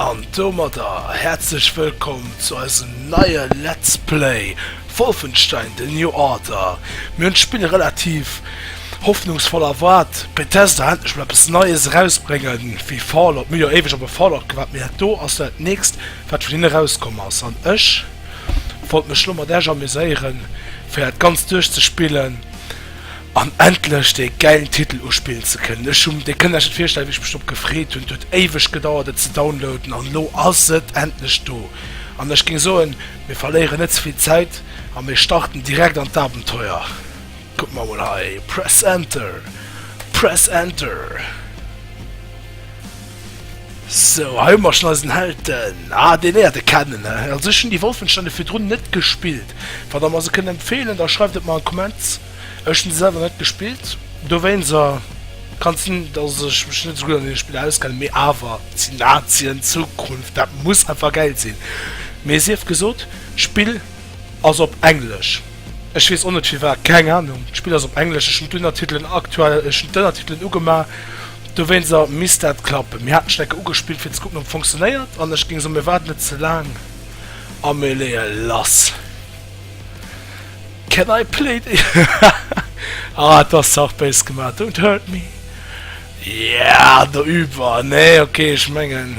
An domadder häerzlech wëllkomm zu eisem neie Let's Play Wolfenstein, The New Order. Mir hunn d'Spill relativ hoffnungsvoll erwaart, Bethesda endlech mol eppes Neies erausbrénge wéi Fallout, mir hu jo éiweg op e Fallout gewaart, mee dat do ass jo dat nächst wat vun hinne erauskomm ass, an ech, wollt mech lo mat Esch amuséieren fir dat ganzt duerch ze spillen an endlech dee gäilen Titel uspillen ze kënnen. Ech hunn, dir kënnt iech net virstellen wéi ech mech drop gefreet hunn, et huet éiweg gedauert et ze downloaden an lo ass et endlech do an ech géing soen mir verléieren net ze vill Zäit a mir starten direkt an d'Abenteuer. Kuckt mer emol hei, press enter, press enter. Sou, hei hu mer schon eisen Held, den, ah, deen léiert e kennen. Also ech hunn déi Wolfenstände virdrun net gespillt. Wann der mer se kënnt empfeelen, da schreift et mer an d'Comments. Ech hunn se selwer net gespillt, dowéinst kann sinn, dass ech mech net esou gutt an deene Spiller auskennen, mee awer si Nazien, Zukunft, dat muss einfach gäil sinn. Mee sief gesot, d'Spill ass op Englesch. Ech wees o net firwat, keng Ahnung. D'Spill ass op Englesch, ech hun d'Unnertitelen aktuell, ech hun d'Ënnertitelen ugema dowéinser, misst dat klappen. Mir haten Stecker ugespillt fir ze kucken op fonktionéiert an ech géing soen mir waarden net ze laang a mir léie lass. Can I play the ah et ass ze haart béis gemaat, don't hurt me yeah do üb war nee ok ech mengen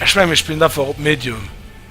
ech mengen mir spillen einfach op medium.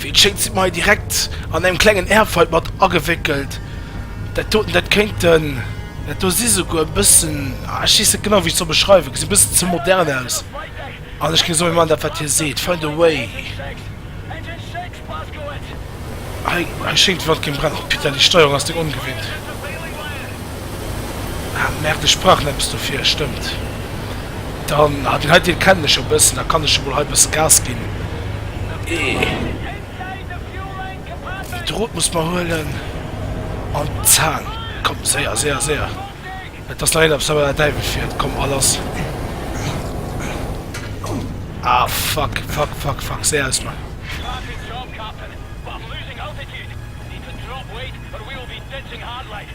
Wéi et schéngt si mer hei direkt an engem klengen Airfight mat agewéckelt. Dat doten, dat kéinten, dat do si souguer e bëssen, ah ech weess net genau wéi ech soll beschreiwen, gesinn e bëssen ze modern aus. An ech géing soen, mir maachen dat wat hie seet, find a way. Hei, hei schéngt d'Wand géing brennen. Oh Peter, déi Steierung ass deng ongewinnt. Ah, Merde, ech brauch nämms dofir, stëmmt. Dann, ah, deen hei Deel kennen ech jo e bëssen, da kann ech jo mol hei e bësse Gas ginn. Eh. Dee Drot muss mer huelen. An d'Zang. Komm, séier, séier, séier. Et ass nach een op senger der Däiwel fiert. Komm, a lass. Ah, fuck, fuck, fuck, fuck, séier aus mer.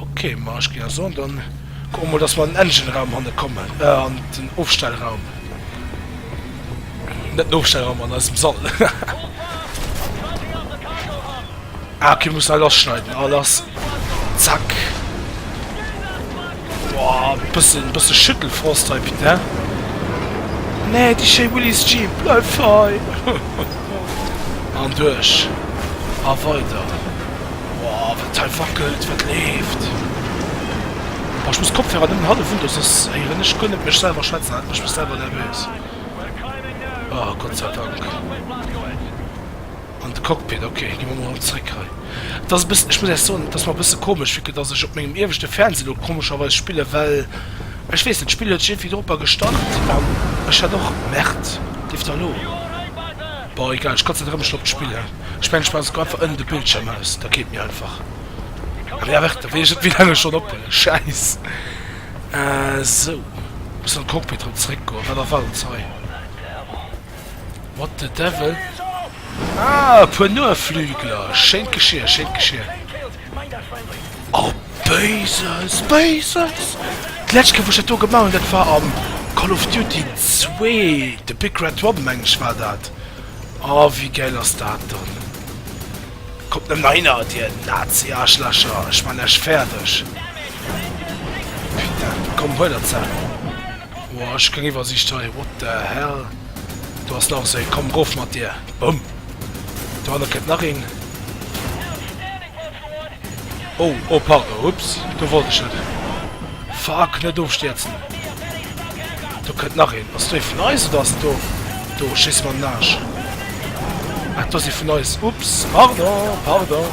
Ok, ma ech ginn a soen, dann kucke mer mol, dass mer an den Engine-Raum hanne kommen, äh, an den Ofstellraum. Net den Ofstellraum, an eisem Sall. ah, okay, muss all lass schneiden, all lass. Zack. Woah, bëssen bëssen Schüttelfrost hei bitte he. Nee, déi schéi Willys Jeep bleift hei. An duerch a weider. Woah, wat hei wackelt, wat leeft. Oh, ech muss Kopfhörer nëmmen hallef un, soss héieren ech guer net mech selwer schwätzen, dat mécht mech selwer nervös. Oh, Gott sei Dank. An de Cockpit, ok, gi mer mol erëm zréck hei. Et ass e bëssen, ech muss Iech soen, et ass mer e bësse komesch, vu que dass ech op mengem ieweschte Fernseh elo komescherweis spillen, well ech weess net, d'Spill huet sech iergendwéi doroper gestart an ech hat och, merde, leeft der elo? Bon, egal, ech konzentréiere mech elo op d'Spill, hä? Ech mengen, ech maachen esou einfach ënnen de Bildschierm aus, da geet mir einfach. Ah merde, da wéi ech net, wéi laang ech schonn op huelen, schäiss. Sou, mussen an d'Cockpit erëm zréckgoen, wat erwaart ons hei? What the devil? Ah, e puer Noaflügler. Schéint Geschier, schéint Geschier. Oh, Béises, Béises! D'lescht Kéier, wou ech dat do gemaach hunn, dat war am Call of Duty 2, The Big Red Robben, meng ech, war dat. Oh, wéi gäil ass dat dann? Kommt nëmmen nach hinner, dir Nazi-Arschlächer! Ech maan lech fäerdeg! Putain, komm, huel der ze! Ohh ech kréien iwwersicht hei, what the hell, do ass nach esou, komm rof mat dir, boum, dohanne kënnt nach een, oh oh pardon, ups, do wollt ech net, fuck, net ofstierzen, do kënnt nach een, ass do ee vun eis oder ass do, do schéisse mer an den Aarsch, ah do ass ee vun eis, ups, pardon, pardon.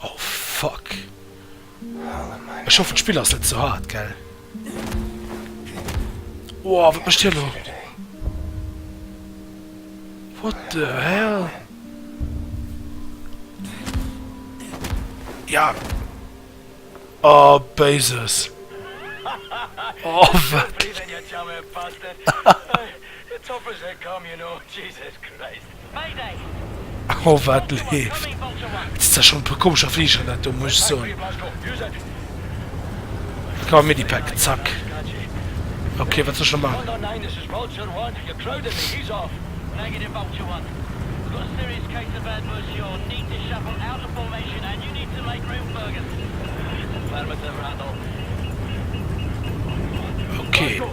Oh fuck. Ech hoffen d'Spill ass net ze hard, gell? Woah, wat mécht hien do? What the hell? Ja. Oh, Bases. Oh, wat? Oh wat leeft! Et si zwar schonn e puer komescher Fliger, dat do muss ech soen. Komm, Medipack, zack. Ok, wat soll ech elo maachen? Ok.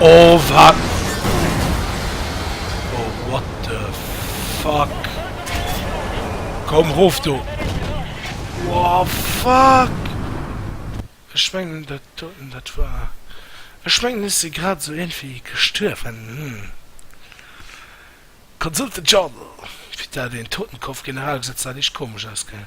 Oh wat? Oh what the fuck? Komm rof do! Wow fuck! Ech mengen dat doten dat war. Ech mengen ech si grad esou iergendwéi gestuerwen. Consulte the journal. Fir dat een Totenkopf-General gesetz dat eescht komesch aus gell?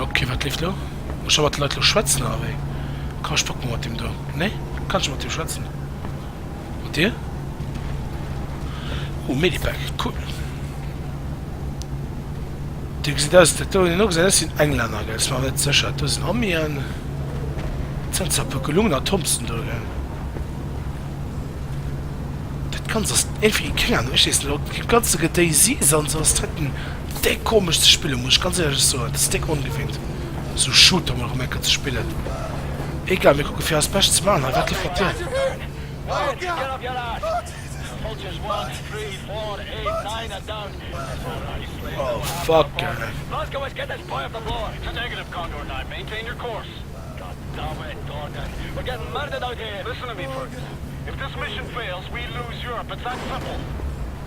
Ok wat leeft lo? Muss ech mat de Leit lo schwätzen oder wéi? Komm ech packen mol mat deem do. Nee? Kann ech mat deem schwätzen? Mat dir? Oh Medipack, cool. Dir gesitt aus, dat do hunn elo gesat, dat sinn Englänner gell? Ass mer awer net sécher, dat do sinn Amien. Dat sinn zwar e puer gelungen Atomsen do gell? Dat ganzt ass iergendwéi keng Ahnung, ech weess net ob dat ganze Gedéisis an esou ass dat. Déck komesch ze spillen, muss ech ganz éierlech soen. Dat ass déck ongewinnt, sou Shooter mol erëm eng Kéier ze spillen. Egal, mir kucke fir eist Bescht ze man hei. Wat gefélt dir?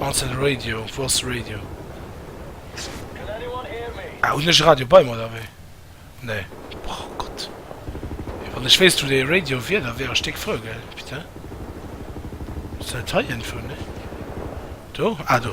Antenn Radio, Voss Radio. Ah hunn ech e Radio bei mer oder wéi? Nee. Oh Gott. Wann ech wéisst wou dee Radio wier, da wär ech déck frou, gell? Putain. Ass dat hei iergendwou? Nee. Do? Ah do.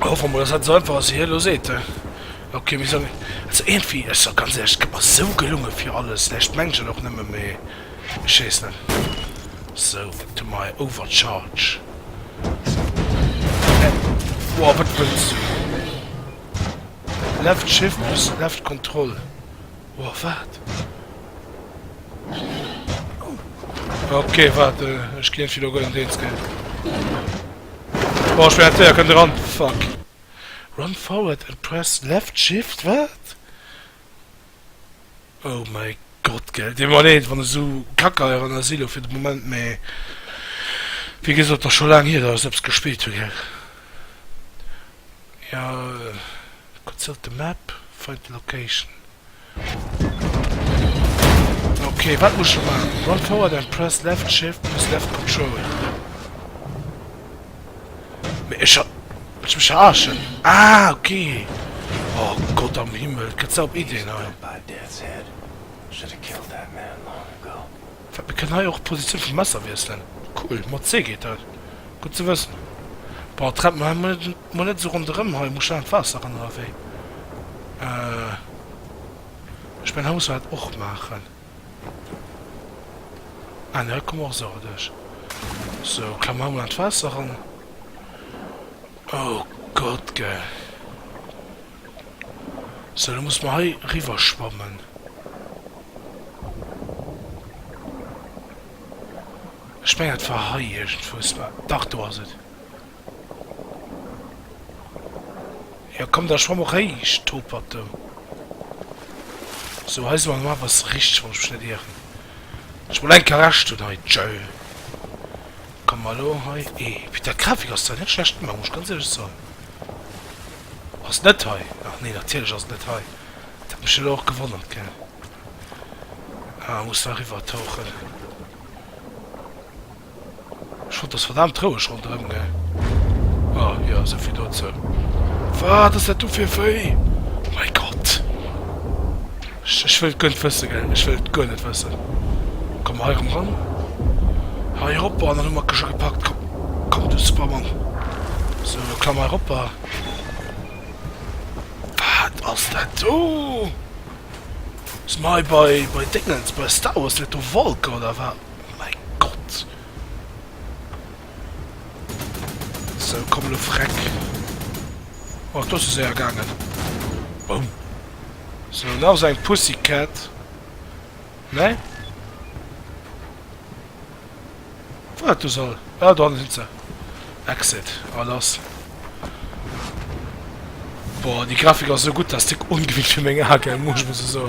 Hoffe mol, dass dat esou einfach ass, wéi hie elo seet, he? Ok, mir solle. Also iergendwéi, ech soll ganz éierlech, et gëtt mer esou gelunge fir alles, ne? Ech d'mengen et och nëmme, mee ech weess net. Sou, wat hu mer hei? Overcharge. Woa, wat wëlls du? Left Shift plus Left Control. Woah, wat? Ok, wat, ech gin fir lo gëllen Deels gell. Boah, ech wär Zéier kënnt eran, fuck. Run forward and press left shift, wat? Oh mäi Gott, gell. Dee Moment, eent wann e sou Kackeieren ass elo fir de Moment, mee wéi gesot, ass scho laang hier dat ech se eppes gespillt hu, gell. Jo gutt sot de map find the location. Ok wat muss ech maachen run forward and press left shift plus left control mee ech hat ech mech verarschen ah ok oh Gott am Himmel gëtt se op Iddien hei. Wat, mir kënnen hei och d'Positioun vum Messer wiesselen? Cool, mat C geet dat. Gutt ze wëssen. Bon, tremp mer mol net esou ronderëm hei, muss schnell an d'Waasser ran oder wéi? Ech mengen, hei muss mer dat och maachen. Ah, nee, hei komme mer och esou duerch. Sou, klammen mer hei mol an d'Waasser ran. Oh Gott, gell! Sou, da muss mer hei riwwer schwammen. Ech mengen, dat war hei iergendwous. Mä dach, do ass et. Jo, komm, da schwamm eréischt, Topert, do. Sou, hei si mer normal, bass richteg, wann ech mech net ieren. Ech mol enk Arrest hunn hei. Tjo. Komme mer elo hei. Ee, Peter, d'Grafik ass zwar net schlecht gemaach, muss ech ganz éierlech soen. Ass net hei? Ach nee, natierlech ass et net hei. Dat huet mech elo och gewonnert, gell. Ah, muss nach riwwertauchen. Ech fand, et ass verdaamt roueg ronderëm, gell. Ah jo, esou vill dozou. Wat ass dat do fir e Vëi? Oh mäi Gott! Ech wëll et guer net wëssen, gell, ech wëll et guer net wëssen. Komm hei rëm ran, hei eropper, an dann hu mer d'Kësche gepackt. Komm, komm, du Superman! Sou, elo klamm hei eropper. Wat ass dat do? Si mer hei bei, bei Déngens, bei Star Wars? Sinn dat do Walker, oder wat? Mäi Gott! So, komm lo freck. Och do se séier gaangen. Boum. So, nach esou eng Pussycat. Ne? Wo dat do soll? Ah, do hannen sinn se. Exit. Ah, lass. Boah, die Grafik ass so gut, dass dick ungewinnt fir meng Ae gell, muss muss eso.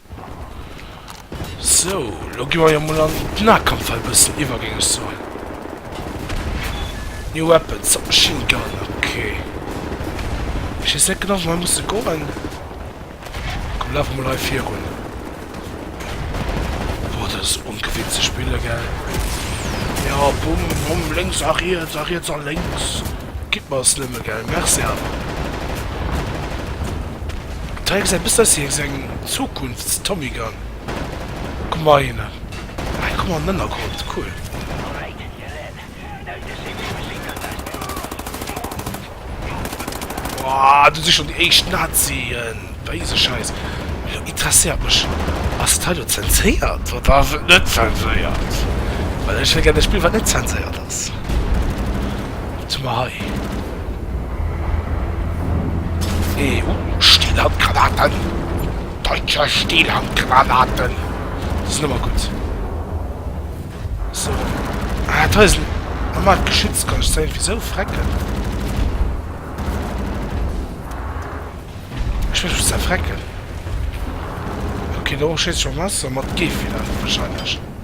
So, lo gi mer jo mol an den Nahkampf hei e bëssen iwwer, géing ech soen. New weapon, Submachine Gun, okay. Ech weess net genau, wou mer musse goen. Komm, lafe mol hei virun. Boah, dat ass ongewinnt ze spille, gell? Ja, bumm, bumm, lénks a riets, a riets a lénks. Gitt mer es nëmme, gell? Merci awer. D'Reihe gesäit bëssen aus wéi esou eng Zukunfts-Tommy Gun. Kuck mol hei hinnen. Hei kuck mol an den Ënnergrond, cool. Woah, do si schonn déi éischt Nazien. Béise Schäiss. Elo interesséiert mech, Ass dat hei elo zenséiert oder ass et net zenséiert? Well ech hätt gär e Spill, wat net zenséiert ass. Wat hu mer hei? Ee uh, Stillhandgranaten! Deutscher Stillhandgranaten! Dat ass nëmme gutt. So. Ah, dat hei ass en normalt Geschütz, kann ech se irgendwie sou frecken? Ech wëll se zerfrecken. Okay, do schëss ech mam Messer, mat Gefieder wahrscheinlech.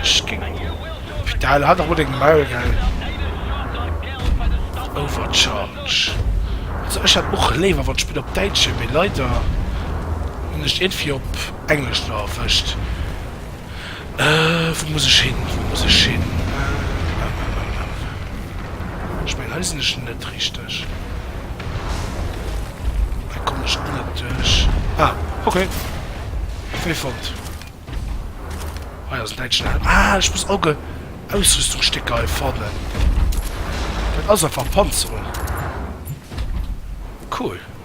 Ech ging vital hat rot eng Mile gell overcharge also ech hat och léiwer wann d'Spill op Däitsch wier mee leider hunn ech et iergendwéi op Englesch no erwëscht. Wou muss ech hin? Wou muss ech hin? Ech mengen hei sinn ech net richteg. Hei kommen ech och net duerch. Ah, ok. Wee fonnt. Hei ass en däitschen Helm. Ah, ech muss Auge Ausrüstungsstécker hei fannen. Dat ass einfach Panzerung. Cool.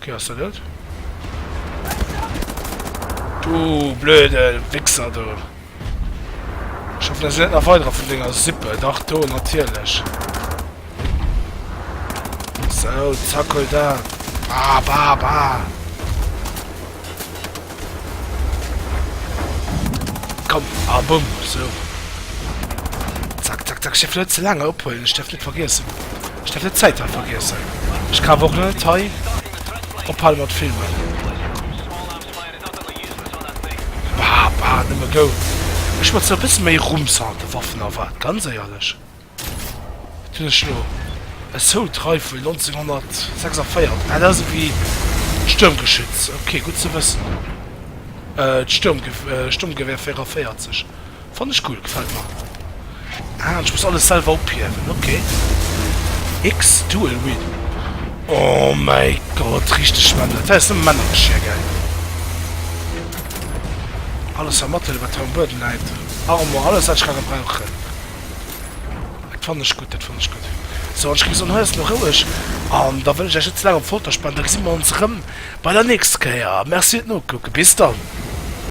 Ok ass dat et? Du blöde Wichser du! Ech hoffen dass net nach weiderer vun denger Sippe, dach do natierlech! So, zack hol dat! Ba ba ba! Komm, a ah, bumm, so. Zack, zack, zack. Ich darf nicht zu lange abholen. Ich darf nicht vergessen. Ich darf nicht Zeit haben vergessen. Ich kann auch nicht hei abhalten mit Filmen. Bah, bah, nicht mehr go. Ich muss so ein bisschen mehr Rums haben, Waffen erwarten, ganz ehrlich. Wat hunn ech elo? E Soult Rifle 1946, ah dat ass ewéi Stuermgeschütz, ok gutt ze wëssen. D'Stuermgewehr 44 fannen ech cool, gefält mer. Ah an ech muss alles selwer ophiewen, ok. X Dual Wield, oh mäi Gott richteg Männer, dat hei ass nëmme Männergeschir gell. Alles a Mattel wat hei um Buedem läit, Armor, alles wat ech ka gebrauchen. Dat fann ech gutt, dat fann ech gutt. Sou, an ech géif soen, hei ass elo roueg an da wëll ech Iech net ze laang op d'Folter spannen. Da gesi mer ons erëm bei der nächster Kéier. Merci fir d'Nokucke. Bis dann.